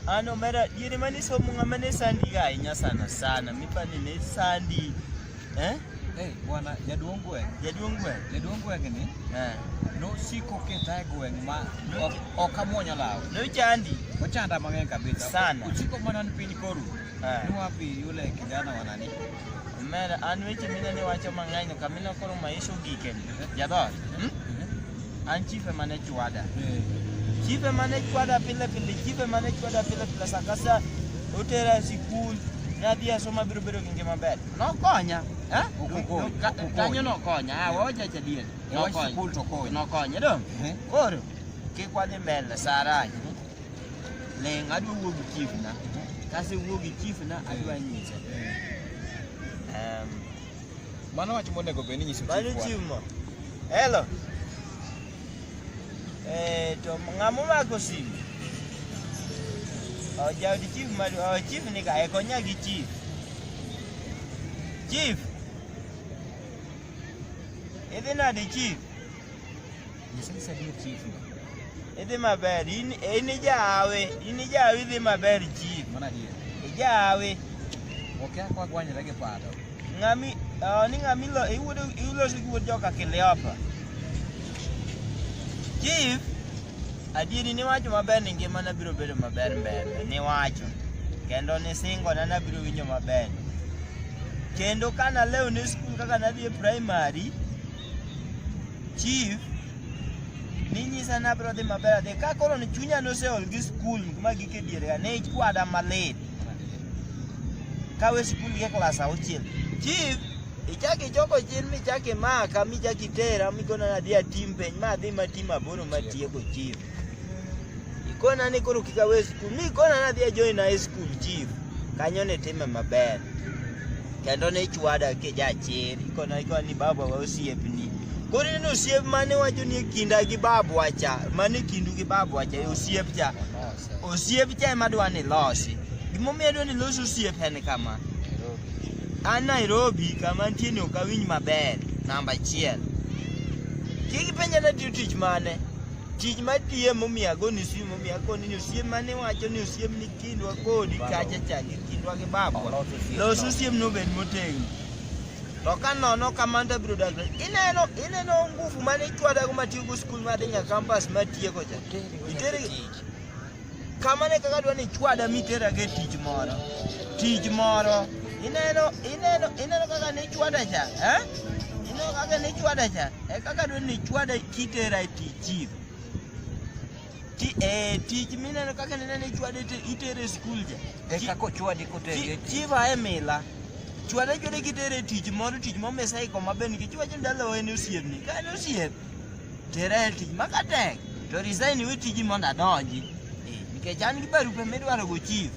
Ano ah, mera yiri mani so munga mani sandi ga inya sana sana mipani ne sandi eh Eh, bwana jaduong' gweng'. Jaduong' gweng'. Jaduong' gweng' ni. Eh. Nosiko ketae gweng' ma ok amwonyo law. Nochandi. Ochanda mang'eny kabisa. Sana. Ochiko mana ni piny koru. Eh. Nuwapi yule kijana wanani. Mera, an weche mina ni wacho mang'eny kamina koro maisha ogike. Jadot. Hmm? An chief ema ne chwada. Chief ema ne chwada pile pile, chief ema ne chwada pile pile sa ka sa otera e sikul, nadhi e soma biro bedo gi ngima maber. Nokonya. Eh? Okokonya, Ka- okokonya. Kanyo nokonya. Ah, wawacha cha dier. E wach Nokonya. sikul to okonya. Nokonya dong. Eh. Koro kik wadhi mbele Sarai. Leng adwa wuo gi chief na. Kase wuo gi chief na adwa nyise. Um, Mano wach monego bed ni nyiso Mano chief wa. chief mo. Hello. Eh, to ng'amo mako simu? Oh, jaod chief madu, oh, chief ni ka, eh, konya gi chief. Chief. Idhi nade chief? Idhi maber, in in ijawe, in ijawe idhi maber chief. Mana adier. Ijawe. Okia kwa gwanyre gi pado. Ng'ami, ah, ni ng'ami lo, iwuodo iloso gi wuod joka Kiliopa. Chief, adieri niwacho maber ni ngimana biro bedo maber mbele, niwacho. Kendo nisingona nabiro winjo maber. Kendo kana lew ni skul kaka nadhi e primary, Chief ninyisa ni abiro dhi maber adhi ka koro ni chunya noseol gi skul kuma gike dierega ne ikwada malit kawe skul gi e klas auchiel chief ichak ichoko chien michak imaka michak itera migonana adhi atim penj ma adhi matim aboro matieko chief Ikona ni koro kika we skul. Mi kona na dhia join na skul chief. Kanyo ne time maber. Kendo ne chwada ke ja chiri. Ikona ikona ni baba wa osiep ni. Koro ineno osiep mane wacho ni kinda gi babu wacha. Mane kindu gi babu wacha. E osiep cha. Osiep cha ema dwa ni losi. Gimomiyo dwa ni losi osiep en kama. An Nairobi kama nitie ni ok awinj maber. Namba achiel. Kik penja ni atiyo tich mane. Tich matiye momiyo agoni simu momiyo akoni ni osiem mane wacho ni osiem ni kindwa kodi kacha change kindwa gi babwa. Los osiem no bed motegno. To ka nono kamano to biro dakre. Ineno ineno nguvu mane ichwadago matiyo go skul madhi nyaka kampas matieko cha. Itere Kamane kaka dwa ni chwada mitera ge tich moro. Tich moro. Ineno ineno ineno kaka ni chwada cha, eh? Ineno kaka ni chwada cha. E kaka dwa ni chwada kitera e tich chief. Ti eh tich mineno kaka ni nene chwada itere e school cha. E kaka ochwadi kotere. E chief ae mila. Chwada chwada kitere e tich moro tich momesa iko maber nikech wacho ndalo en osiepni. Ka en osiep tera e tich maka tek to resign iwe tiji mondo adonji Eh, nikech an gi barupe midwaro go chief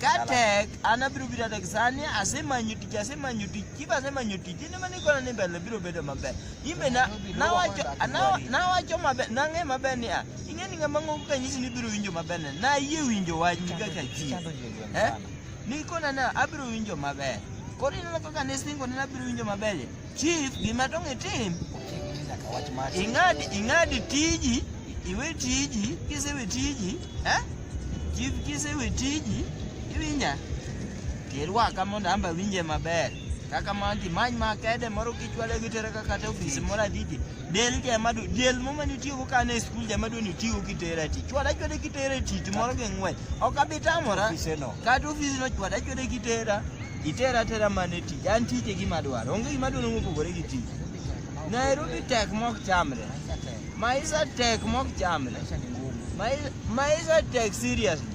ka tek an abiro biro tek sani asemanyo tich asemanyo tich chief asemanyo tich in ema nikona ni mbele biro bedo maber imbe na- nawacho na- nawacho maber nang'e maber ni ah, ing'e ni ng'ama ng'ongo kanyisi ni biro winjo maber ne nayie winjo wach kaka chief Eh? Nikona na abiro winjo maber. Koro ineno kaka ne singo ne abiro winjo maber. ye. Chief gima tong' itim, ing'ad ing'ad tiji, iwe tiji, kisewe tiji, eh? Chief kisewe tiji, iwinja. Tirwaka mondo amba winje maber. Kaka manti many makede moro kichwale gitere kaka te ofisi moro adidi. del jamadu del muma ni tiyo ka ne school jamadu ni tiyo ki tera ti chwada chwada ki tera ti ti moro ge ngwe ok abitamora ka tu fizi no chwada chwada ki tera itera tera mane ti an ti te gima dwaro onge gima dwaro mo pogore gi ti Nairobi tek mok chamre maisa tek mok chamre maisa tek seriously